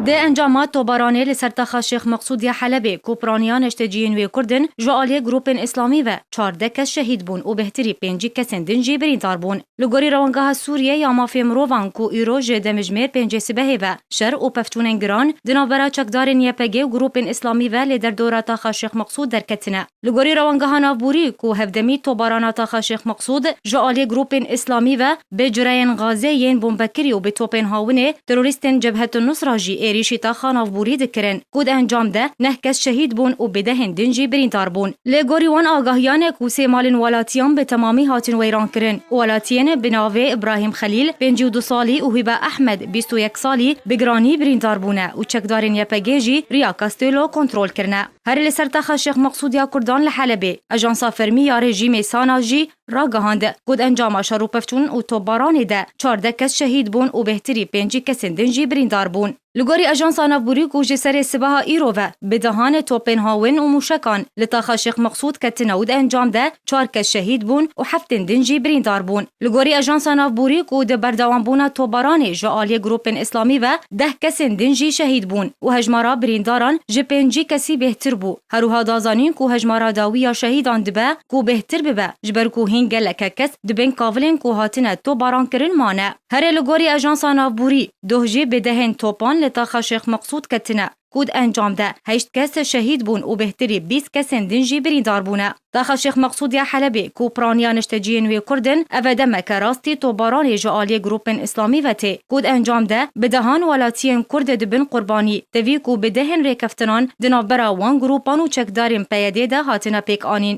Di encama tobaranê li ser taxa Şêx Meqsûd ya Helebê ku piraniya neşteciyên wê Kurd in, ji aliyê grûpên Îslamî ve çardeh kes şehîd bûn û bêhtirî pêncî kesên din jî birîndar bûn. Li gorî Rewangeha Sûriyê ya Mafê Mirovan ku îro ji demijmêr pêncê sibehê ve şer û pevçûnên giran di navbera çekdarên YPG û grûpên Îslamî ve lê derdora taxa Şêx Meqsûd derketine. Li gorî rewangeha navbûrî ku hevdemî tobarana taxa Şêx Meqsûd ji aliyê grûpên îslamî ve bi cureyên gazê yên bombekirî û bi topên hawinê terorîstên Cebhetunusra jî êrîşî taxa navbûrî dikirin ku di encam de neh kes şehîd bûn û bêdehên din jî birîndar bûn. Li gorî wan agahiyane ku sê malên welatiyan bi temamî hatin weyrankirin, welatiyên bi navê Îbrahîm Xelîl, pêncî û du salî û Hîbe Ehmed, bîst û yek salî, bi giranî birîndar bûne û çekdarên YPG'ê jî riya Castello kontrol kirine. Herî li ser taxa Şêx Meqsûd ya Kurdan li Helebê, ajansa fermî ya rejîmê Sana jî ragihand, got encama şerûpevçûn û topbaranê de çardeh kes şehîd bûn û bêhtirî pêncî kesên din jî birîndar bûn. Li gorî ajansa navbûrî ku ji serê sibeha îro ve bi dehan topên hawin û mûşekan li taxa Şêx Meqsûd ketine û di encam de çar kes şehîd bûn û heftên din jî birîndar bûn. Li gorî Ajansa Navborî ku di berdewambûna topbaranê ji aliyê grûpên îslamî ve deh kesên din jî şehîd bûn û hejmara birîndaran ji pêncî kesî bêhtir bû. Herwiha da zanîn ku hejmara dawî ya şehîdan dibe ku bêhtir bibe ji ber ku hîn geleke kes di bin kavilên ku hatine topbarankirin mane. Herê li gorî Ajansa Navborî, doh jî bi dehên topan li taxa Şêx Meqsûd ketine. ku di encam de heşt kes şehîd bûn û bêhtirî bîst kesên din jî birîndar bûne. Daxa Şêx Meqsûd ya Helebê ku piraniya nişteciyên wê Kurd in, ev e demeke rastî topbaranê ji aliyê grûpên îslamî ve tê ku di encam de bi dehan welatiyên Kurd dibin qurbanî, tevî ku bi dehên rêkeftinan di navbera wan grûpan û çekdarên PYD'ê de hatine pêkanîn.